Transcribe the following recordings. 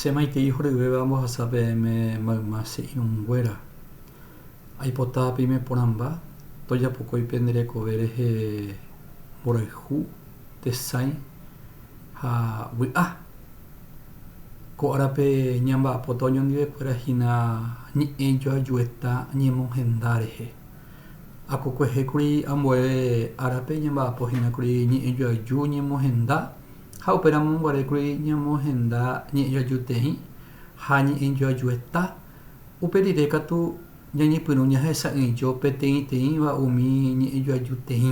Che maitei horyvéva ambohasa peẽme mayma che irũnguéra. Aipota peime porãmba, tojapokói pende rekove rehe mborayhu, tesãi ha vy'a. Ko árape ñamba'apóta oñondivekuéra hína ñe'ẽ joajueta ñemonhenda rehe. Akokuehékuri ambue árape ñamba'apo hína kuri ñe'ẽ joaju ñemonhenda Ha upéramo guarékuri ñamohenda ñe'ẽjoajuteĩ ha ñe'ẽjoajueta, upe rire katu ñañepyrũ ñahesa'ỹijo peteĩteĩva umi ñe'ẽjoajuteĩ.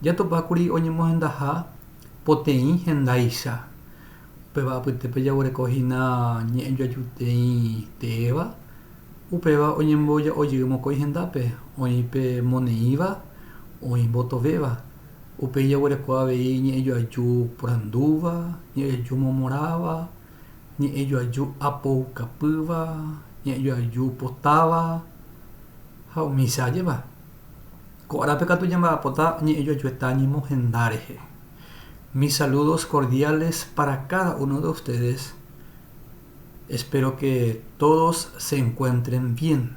Jatopákuri oñemohendaha poteĩ hendaicha, upéva apytépe jaguereko hína ñe'ẽjoajuteĩ teéva, upéva oñemboja'ojy mokõi hendápe, oĩ pe moneĩva, oĩ mbotovéva. Upéi jaguereko avei ñe'ẽ joaju porandúva, ñe'ẽ joaju momorãva, ñe'ẽ joaju apoukapýva, ñe'ẽ joaju potáva ha umícha ajépa. Ko árape katu ñamba'apota ñe'ẽ joaju heta ñemohenda rehe. Mis saludos cordiales para cada uno de ustedes, espero que todos se encuentren bien.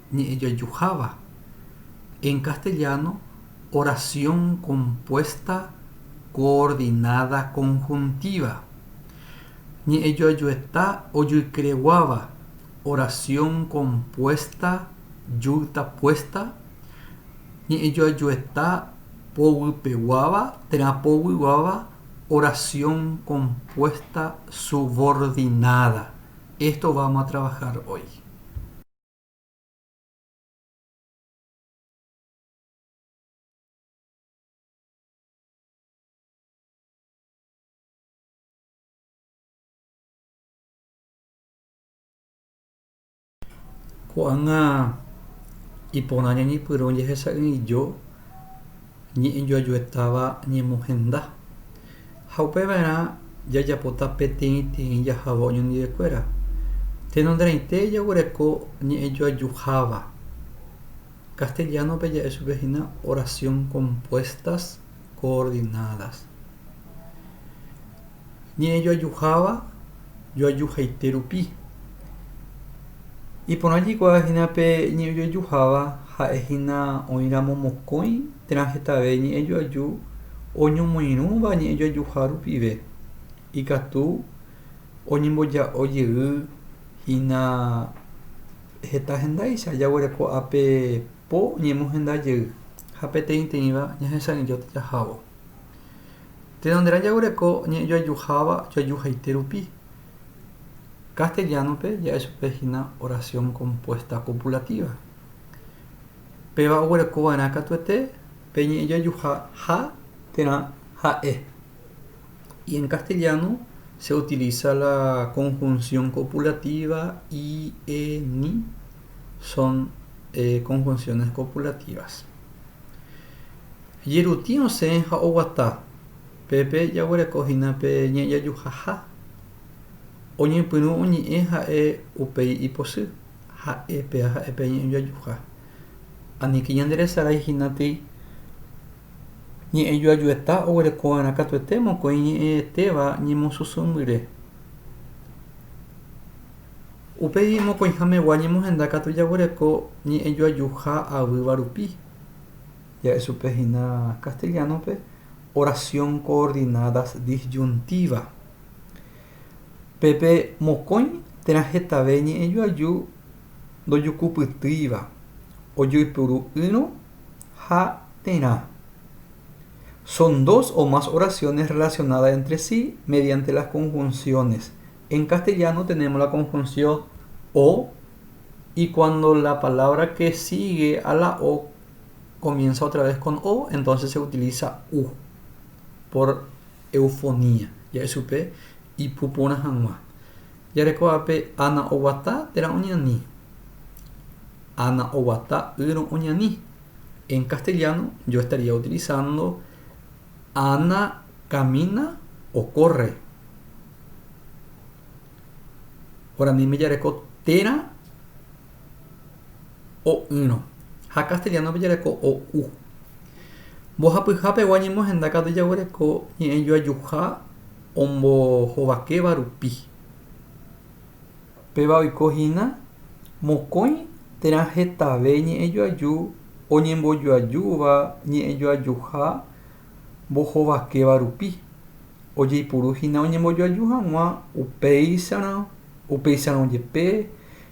ñe'ẽjojuháva, en castellano, oración compuesta coordinada conjuntiva, ñe'ẽjoajueta ojuikyreguáva, oración compuesta juitapuesta, ñe'ẽjoajueta povypeguáva térã povyguáva, oración compuesta subordinada. Esto vamos a trabajar hoy. Ko'ág̃a iporã ñañepyrũ jehecha'ỹijo ñe'ẽjoajuetáva ñemohenda. Ha upeva'erã jajapóta peteĩ teĩ jahávo oñondivekuéra. Tenonderãite jaguereko ñe'ẽjoajuháva. Castellano-pe ja'e chupe hína oración compuestas coordinadas. Ñe'ẽjoajuháva joajuhaite rupi. Iporã jaikuaa hína pe ñe'ẽjoajuháva ha'e hína oĩramo mokõi Térã hetave ñe'ẽjoaju oñomoirũva ñe'ẽjoajuha rupive, ikatu oñemboja'o jey hína heta hendáicha jaguereko ape po ñemohenda jey ha peteĩteĩva ñahesa'ỹijóta jahávo. Tenonderã jaguereko ñe'ẽjoajuháva joajuhaite rupi. Castellano-pe ja'e chupe hína oración compuesta copulativa. Péva oguerekova'erã katuete pe ñe'ẽjojuha ha térã ha'e. Y en castellano se utiliza la conjunción copulativa i, e, ni, son conjunciones copulativas. Jerutĩ osẽ ha oguata, pépe jaguereko hína pe ñe'ẽjojuha ha. Oñepyrũ oñe'ẽ ha'e upéi iposy. ha'e pe aha'e pe ñe'ẽjoajuha. Aníke ñande resarái hína tei ñe'ẽjoajueta oguereko va'erã katuete mokõi ñe'ẽetéva ñemosusu'ũmbyre. Upéi mokõiha megua ñemohenda katu jaguereko ñe'ẽjoajuha avýva rupi. Ja'e chupe hína castellano-pe oración coordinadas disyuntiva. Pepe mokõi térã hetave ñe'ẽjoaju ndojukupytýiva, ojoypuru'ỹrõ ha terã. Son dos o más oraciones relacionadas entre sí mediante las conjunciones. En castellano tenemos la conjunción o y cuando la palabra que sigue a la o comienza otra vez con o, entonces se utiliza u. Por Eufonía, ja'e chupe ipu porã hag̃ua. Jarekóvape Ana oguata térã oñani. Ana oguata ýrõ oñani. En castellano yo estaría utilizando Ana camina o corre. Guaraníme jareko térã. o'ỹrõ, ha castellano-pe jareko o'u. Mbohapyha pegua ñemohenda katu jaguereko ñe'ẽjoajuha ombohovakéva rupi. Péva oiko hína mokõi térã hetave ñe'ẽjoaju oñembojoajúva ñe'ẽjoajuha mbohovakéva rupi, ojeipuru hína oñembojoaju hag̃ua upéicharõ, upéicharõ jepe,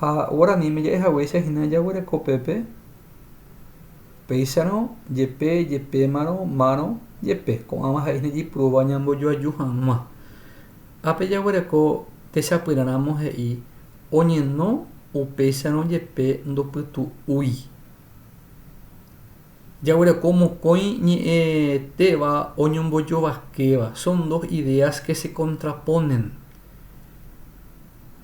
Ha guaraníme ja'e haguéicha hína jaguereko pépe, péicharõ jepe, jepémarõ, márõ, jepe. Ko'ãva ha'e hína jeipurúva ñambojoaju hag̃ua. Ápe jaguereko techapyrãramo he'i oñeno upéicharõ jepe ndopytu'úi. Jaguereko mokõi ñe'ẽtéva oñombojovakéva, son dos ideas que se contraponen.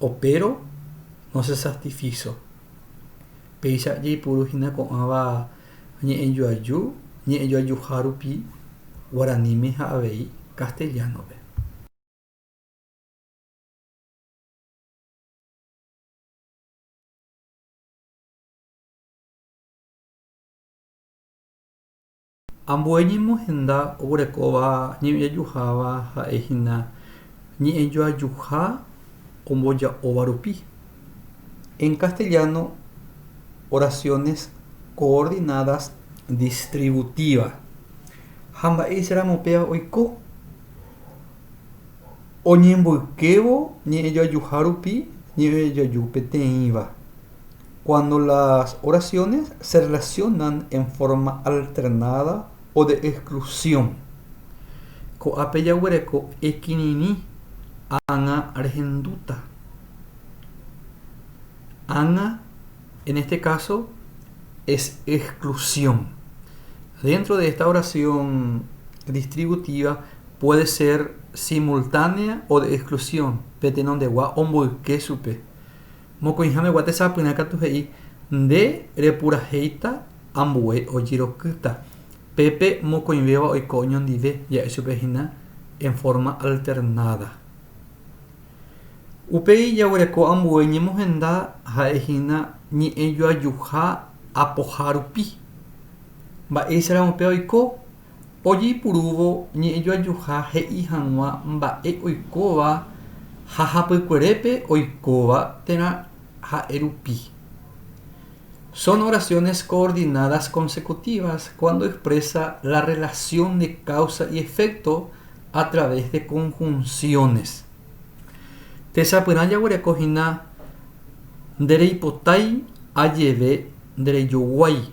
Opéro no se sastifíso. Péicha jaipuru hína ko'ãva ñe'ẽjoaju, ñe'ẽjoajuha rupi guaraníme ha avei castellano-pe. Ambue ñemohenda oguerekóva ñe'ẽjojuháva ha'e hína ñe'ẽjoajuha omboja'óva rupi. En castellano, oraciones coordinadas distributiva. Ha mba'éicha ramo péva oiko? Oñemboykévo ñe'ẽjoajuha rupi ñe'ẽjoaju peteĩva. Cuando las oraciones se relacionan en forma alternada o de exclusión. Ko'ápe jaguereko ekirirĩ ág̃a rehendúta. Ág̃a en este caso es exclusión. Dentro de esta oración distributiva, puede ser simultánea o de exclusión, pe tenondegua omboyke chupe. Mokõiha megua tesapyrã katu he'i, Nde repurahéita ambue ojerokýta. Pépe mokõivéva oiko oñondive, ja'e chupe hína en forma alternada. Upéi jaguereko ambue ñemohenda ha'e hína ñe'ẽjoajuha apoha rupi. Mba'éicharamo pe oiko? Ojeipurúvo ñe'ẽjoajuha he'i hag̃ua mba'e oikóva ha hapykuerépe oikóva térã ha'e rupi. Son oraciones coordinadas consecutivas cuando expresa la relación de causa y efecto a través de conjunciones. Tesapyrã jaguereko hína Ndereipotái ajeve nderejoguái.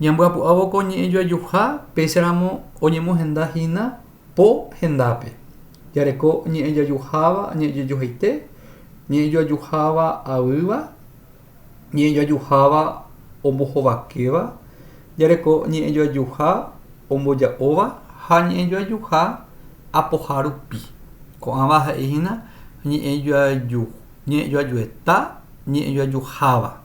Ñambyapu'ávo ko ñe'ẽjoajuha péicharamo oñemohenda hína po hendápe. Jareko ñe'ẽjoajuháva ñe'ẽjoajuhaite, ñe'ẽjoajuháva aýva, ñe'ẽjoajuháva ombohovakéva, jareko ñe'ẽjoajuha omboja'óva ha ñe'ẽjoajuha apoha rupi. Ko'ãva ha'e hína ñe'ẽjoajueta ñe'ẽjoajuháva.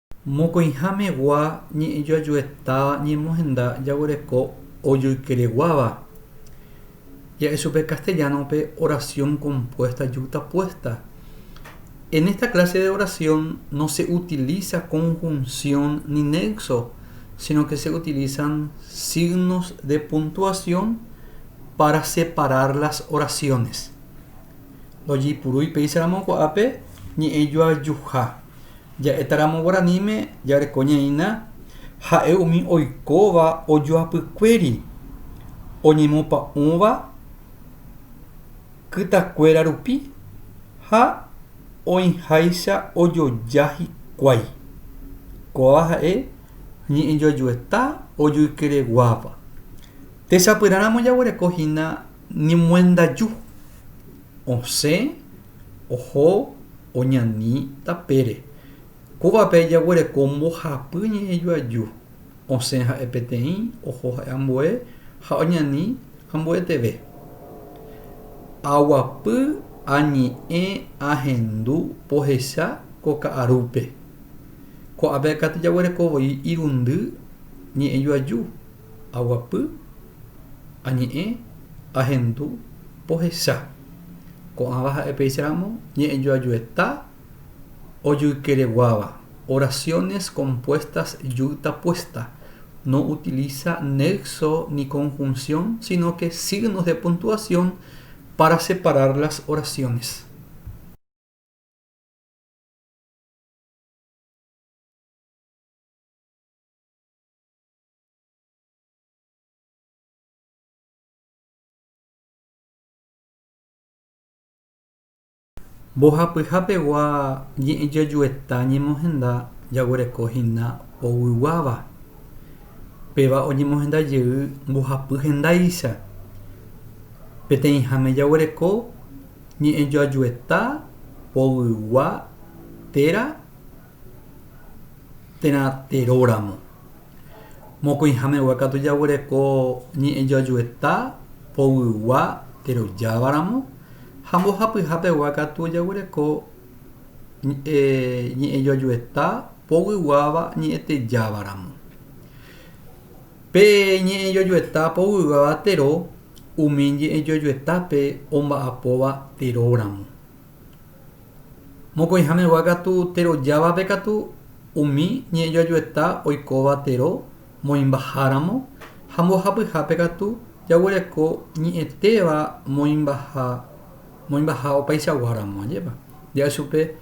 Mokõihamegua ñe'ẽjoajuetáva ñemohenda jaguereko ojoykereguáva. Ja'e chupe castellano-pe oración compuesta yutapuesta. En esta clase de oración no se utiliza conjunción ni nexo, sino que se utilizan signos de puntuación para separar las oraciones. Lojeipurúi péicharamo ko'ápe ñe'ẽjoajuha. Ja'étaramo guaraníme jareko ñaĩna ha'e umi oikóva ojoapykuéri oñemopa'ũva kytakuéra rupi ha oĩháicha ojoja hikuái. Kóva ha'e ñe'ẽjoajueta ojoykereguáva. Techapyrãramo jaguereko hína ñemoendaju. osẽ oho oñani tapére. Kóvape jaguereko mbohapy ñe'ẽjoaju. Osẽ ha'e peteĩ, oho ha'e ambue ha oñani ambueteve. Aguapy añe'ẽ ahendu pohecha ko ka'arúpe. Ko'ápe katu jaguereko voi irundy ñe'ẽjoaju. Aguapy, añe'ẽ, ahendu, pohecha. Ko'ãva ha'e péicharamo ñe'ẽjoajueta ojoykereguáva, oraciones compuestas yu'tapuesta, no utiliza nexo ni conjunción, sino que signos de puntuación para separar las oraciones. Mbohapyha pegua ñe'ẽjojueta ñemohenda jaguereko hína poyguáva. Péva oñemohenda jey mbohapy hendáicha. Peteĩháme jaguereko ñe'ẽjoajueta poygua téra térã teróramo. Mokõihame'ua katu jaguereko ñe'ẽjoajueta poguygua terojávaramo ha mbohapyhapegua katu jaguereko ñe'ẽjoajueta poguýguáva ñe'ẽtejávaramo. Pe ñe'ẽjoajueta poguýguáva tero umi ñe'ẽjoajuetápe omba'apóva teróramo. Mokõi hãmegua katu tero jávape katu umi ñe'ẽjoajueta oikóva tero moĩmbaháramo ha mbohapyhápe katu jaguereko ñe'ẽtéva moĩmbaha opaichagua ramo. Ajépa ja'a chupe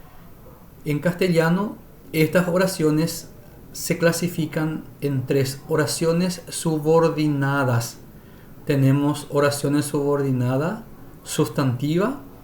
en castellano estas oraciones se clasifican en tres oraciones subordinadas tenemos oraciones subordinadas sustantiva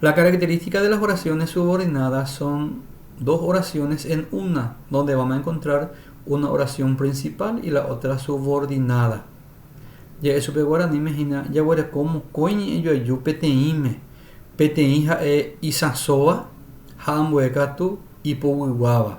La característica de las oraciones subordinadas son dos oraciones en una donde vamos a encontrar una oración principal y la otra subordinada ja'e chupe guaraníme hína jaguereko mokõi ñe'ẽjoaju peteĩme peteĩ ha'e isãsóva ha ambuekatu ipoguýguáva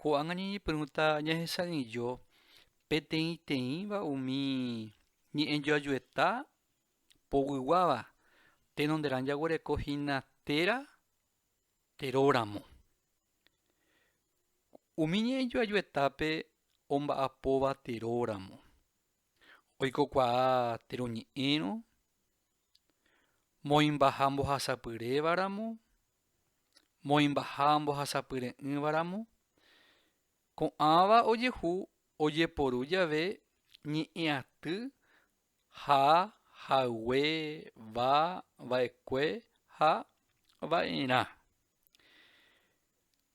Ko'ág̃a ñañepyrũta ñahesa'ỹijo peteĩteĩva umi ñe'ẽjoajueta poguýguáva tenonderã jaguereko hína téra teróramo. Umi ñe'ẽjoajuetápe omba'apóva teróramo, oikokuaa teroñe'ẽrõ, moĩmbaha mbohasapyrévaramo, moĩmbaha mbohasapyre'ỹvaramo, ko'ãva ojehu ojeporu jave ñe'ẽaty ha haygue va vaekue ha vaerã.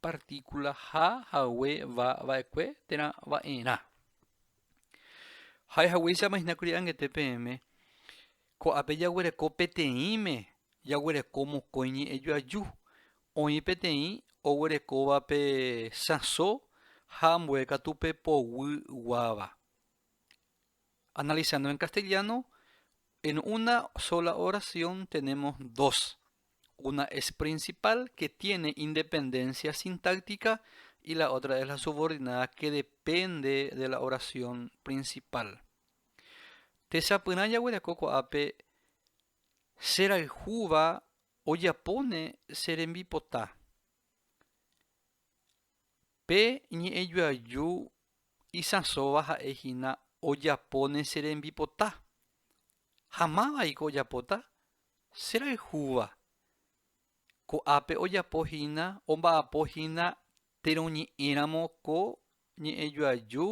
partíkulaha hague va va'ekue térã va'erã. Ha'e haguéicha imahinakuri anguete peẽme, ko'ápe jaguereko peteĩme, jaguereko mokõi ñe'ẽju aju, oĩ peteĩ oguerekóva pe sãso ha ambue katu pe poguy guáva. Analizando en castellano, en una sola oración tenemos dos. Una es principal, que tiene independencia sintáctica, y la otra es la subordinada, que depende de la oración principal. Techapyrã jaguereko ko'ápe cherayhúva ojapóne che rembipota. Pe ñe'ẽjoaju isãsóva ha'e hína ojapóne che rembipota. Ha mávaiko ojapóta? Che rayhúva, ko'ápe ojapo hína, omba'apo hína térõ ñe'ẽramo ko ñe'ẽjoaju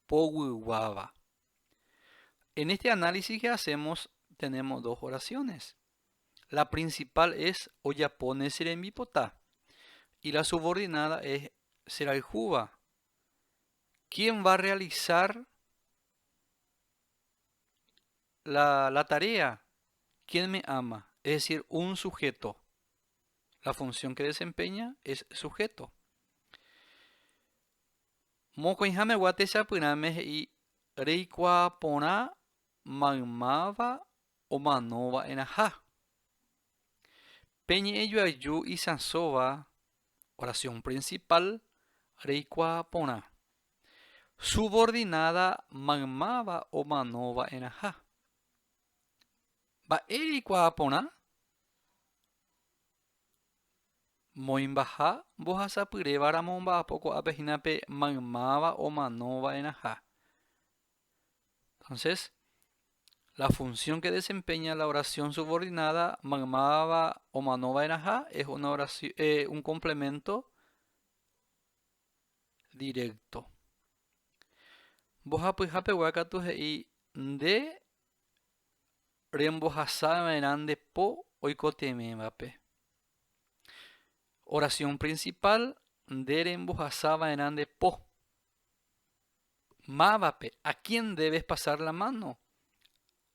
poguýguáva. En este análisis que hacemos tenemos dos oraciones. La principal es ojapo ne che rembipota. Y la subordinada es che rayhúva. ¿Quién va a realizar la, la tarea, quién me ama, es decir, un sujeto. La función que desempeña es sujeto. Mokõiháme gua techapyrãme he'i reikuaa porã maymáva omano va'erãha. Pe ñe'ẽ joaju isãsóva, oración principal, reikuaa porã. Subordináda maymáva omano va'erãha. Mba'e reikuaa porã? Moĩmbaha mbohasapyréva ramo omba'apo ko'ápe hína pe maymáva omano va'erãha. Entonces, la función que desempeña la oración subordinada maymáva omano va'erãha es una oración, eh, un complemento directo. Mbohapyha pegua katu he'i nde rembohasa va'erã nde po oikotevẽvape. Oración principal nde rembohasa va'erã nde po. Mávape, a quién debes pasar la mano?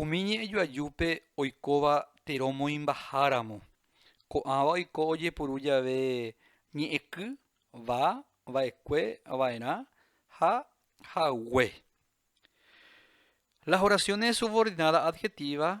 Umi ñe'ẽjoajúpe oikóva térõ moĩmbaháramo, ko'ãva oiko ojepuru jave ñe'ẽky, va, vaekue, vaerã ha hague. Las oraciones subordinadas adjetivas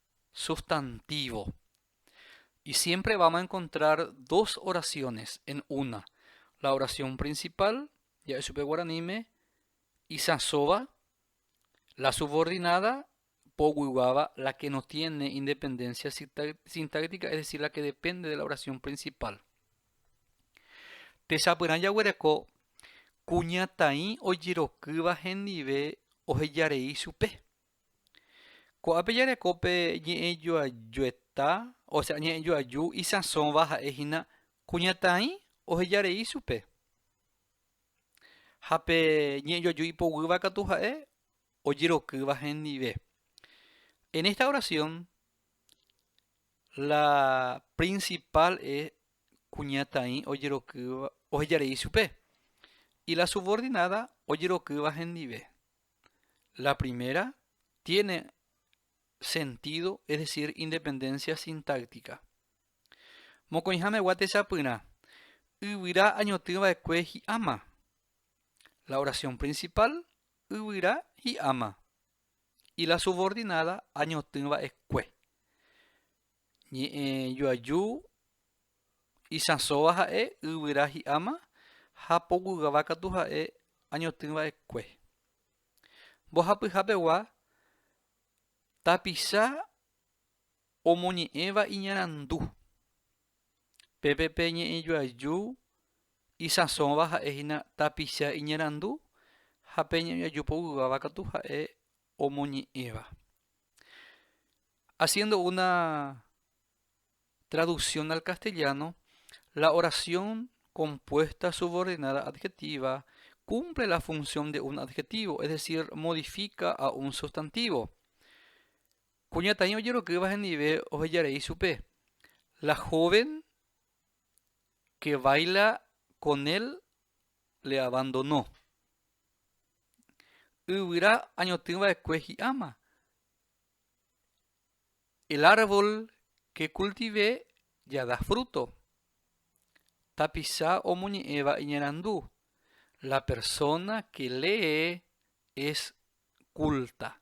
Substantivo. Y siempre vamos a encontrar dos oraciones en una. La oración principal, ya es supe guaranime, isasoba, la subordinada, poguiguaba, la que no tiene independencia sintáctica, es decir, la que depende de la oración principal. Tesapyrã jaguereko kuñataĩ ojerokyva hendive ohejarei supe. Ko'ápe jareko pe ñe'ẽjoajueta, ósea ñe'ẽjoaju isãsóva ha'e hína kuñataĩ oheja rei chupe. Ha pe ñe'ẽjoaju ipoguýva katu ha'e ojerokýva hendive. En esta oración la principal es kuñataĩ ojerokýva oheja rei chupe y la subordinada ojerokýva hendive. La primera tiene sentido, es decir, independencia sintáctica. Mokõihamegua techapyrã, yvyra añotỹva'ekue hi'áma. La oración principal, yvyra hi'áma. Y la subordinada, añotỹva'ekue. Ñe'ẽ joaju isãsóva ha'e yvyra hi'áma ha poguygava katu ha'e añotỹva'ekue. Mbohapyhapegua tapicha omoñe'ẽva iñarandu. Pépe pe ñe'ẽ joaju isãsóva ha'e hína tapicha iñarandu ha pe ñe'ẽ joaju poguygava katu ha'e omoñe'ẽva. Haciendo una traducción al castellano, la oración compuesta subordinada adjetiva cumple la función de un adjetivo, es decir, modifica a un sustantivo. Kuñataĩ ojerokýva hendive ohejarei ichupe. La joven que baila con él le abandonó. yvyra añotỹva'ekue hi'áma. El árbol que cultivé ya da fruto. Tapicha omoñe'ẽva iñerandu, La persona que lee es culta.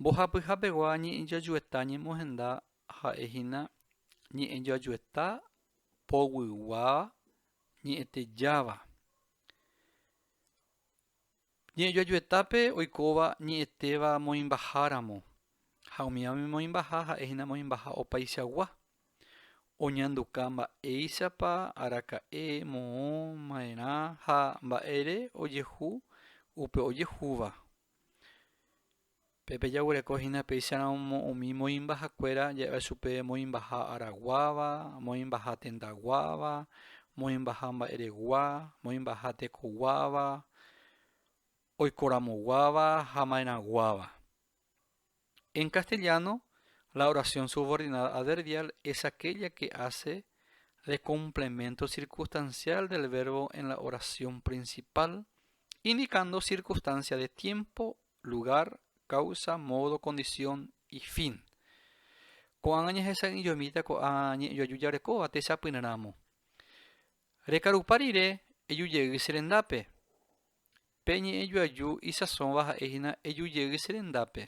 Mbohapyha pegua ñe'ẽjoajueta ñemohenda ha'e hína ñe'ẽjoajueta poguygua ñe'ẽtejáva. Ñe'ẽjoajuetápe oikóva ñe'ẽtéva moĩmbaháramo ha umíva umi moĩmbaha ha'e hína moĩmbaha opaichagua. Oñanduka mba'éichapa araka'e moõ ma'erã ha mba'ére ojehu upe ojehúva. Pépe jaguereko hína péicharamo umi moĩmbahakuéra ja'éva chupe moĩmbaha araguáva, moĩmbaha tendaguáva, moĩmbaha mba'eregua, moĩmbaha tekoguáva, oikoramoguáva ha ma'erãguáva. En castellano, la oración subordinada adverbial es aquella que hace de complemento circunstancial del verbo en la oración principal, indicando circunstancia de tiempo, lugar, causa, modo, condición y fin. Ko'ág̃a ñahesa'ỹijomíta ko'ã ñe'ẽjoaju jarekóva techapyrãramo. Rekarupa rire eju jey che rendápe. Pe ñe'ẽ joaju isãsóva ha'e hína eju jey che rendápe.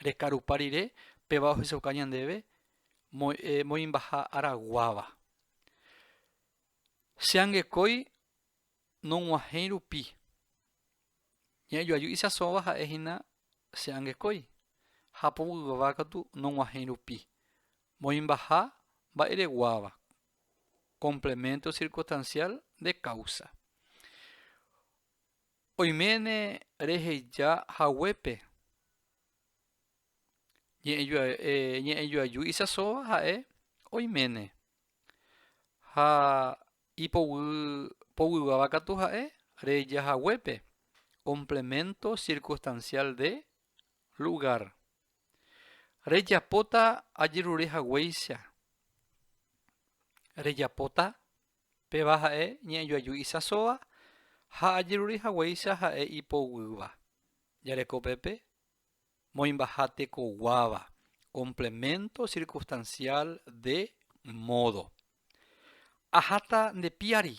Rekarupa rire péva ohechauka ñandéve moĩmbaha ára guáva. Che angekói nog̃uahẽi rupi. Ñe'ẽ joaju isãsóva ha'e hína che angekói ha povyva katu nog̃uahẽi rupi, moĩmbaha mba'ereguáva, complemento circunstancial de causa. Oiméne reheja haguépe ñe'ẽjoaju isasóva ha'e oiméne ha ipoguýva katu ha'e reheja haguépe complemento circunstancial de lugar. Rejapóta ajerure haguéicha. Rejapóta, péva ha'e ñe'ẽjoaju isãsóva ha ajerure haguéicha ha'e ipoguýva. Jareko pépe moĩmbaha tekoguáva, complemento circunstancial de modo. Aháta nde piári.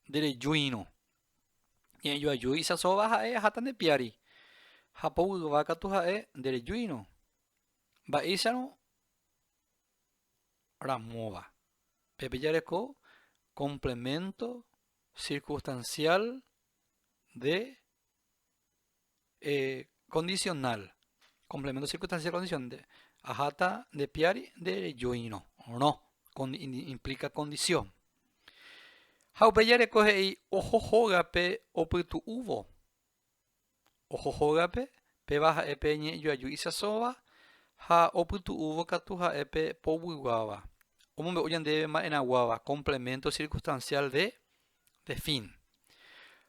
Nde rejuírõ, ñe'ẽjoaju isãsóva ha'e aháta nde piári, ha poguýva katu ha'e nde rejuírõ. Mba'éicharõ ramóva, pépe jareko complemento circunstancial de eh, condicional, complemento circunstancial condición, de, ajata de piari de rejoino, no, con, implica condición. Ha upe jareko he'i ojo hógape opytu'úvo. Ojo hógape, péva ha'e pe ñe'ẽjoaju isasóva, ha opytu'úvo katu ha'e pe poguýguáva. Omombe'u ñandéve ma'erãguáva, complemento circunstancial de, de fin.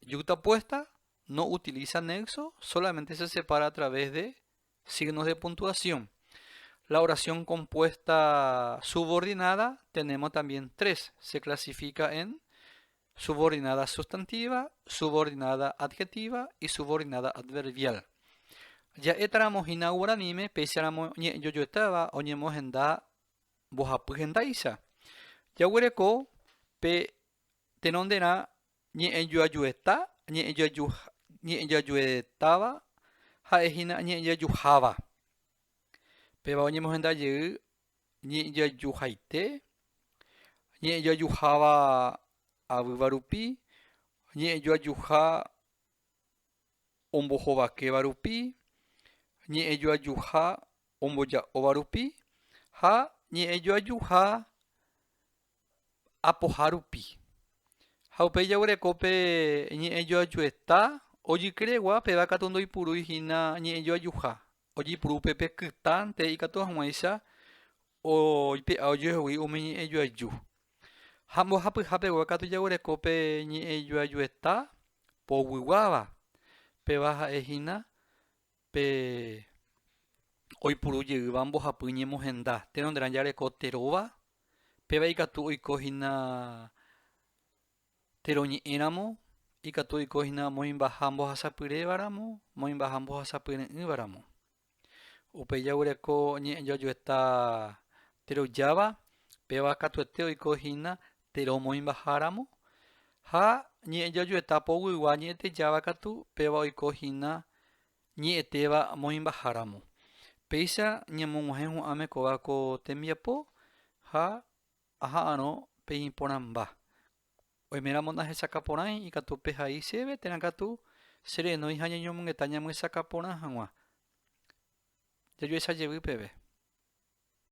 Yuxtapuesta no utiliza nexo, solamente se separa a través de signos de puntuación. La oración compuesta subordinada tenemos también tres. Se clasifica en subordinada sustantiva, subordinada adjetiva y subordinada adverbial. Ja'étaramo hína guaraníme, péicharamo ñe'ẽjojoetáva oñemohenda mbohapy hendáicha. Jaguereko pe tenonderã Ñe'ẽjoajueta, ñe'ẽjoajuetáva, ha'e hína ñe'ẽjoajuháva. Péva oñemohenda jey ñe'ẽjoajuhaite, ñe'ẽjoajuháva avýva rupi, ñe'ẽjoajuha ombohovakéva rupi, ñe'ẽjoajuha omboja'óva rupi ha ñe'ẽjoajuha apoha rupi. Ha upéi jaguereko pe ñe'ẽ joajueta ojykregua, péva katu ndoipurúi hína ñe'ẽ joajuha. Ojepuru upe pe kytãnte ikatu hag̃uáicha oipe'a ojoehegui umi ñe'ẽ joaju. Ha mbohapyha pegua katu jaguereko pe ñe'ẽ joajueta poguýguáva, péva ha'e hína Pe oipuru jeýva mbohapy ñemohenda, térõ nde rã jareko te róva, péva ikatu oiko hína te roñe'ẽ ramo, ikatu oiko hína moĩmbaha mbohasapyréva ramo, moĩmbaha mbohasapyre'ỹva ramo. Upéi jaguyréko ñe'ẽjojueta te rojáva, péva katuete oiko hína Térã omoĩmbaháramo, ha ñe'ẽjojueta poguygua ñe'ẽtejáva katu péva oiko hína ñe'ẽtéva moĩmbaháramo. Péicha ñamog̃uahẽ hu'ãme kóva ko tembiapo ha aha'arõ pe iporãmba. Oiméramo nahechaka porãi ikatu pehai chéve térã katu cherenói ha ñañomongeta ñamyesakã porã hag̃ua jajuecha jevy peve.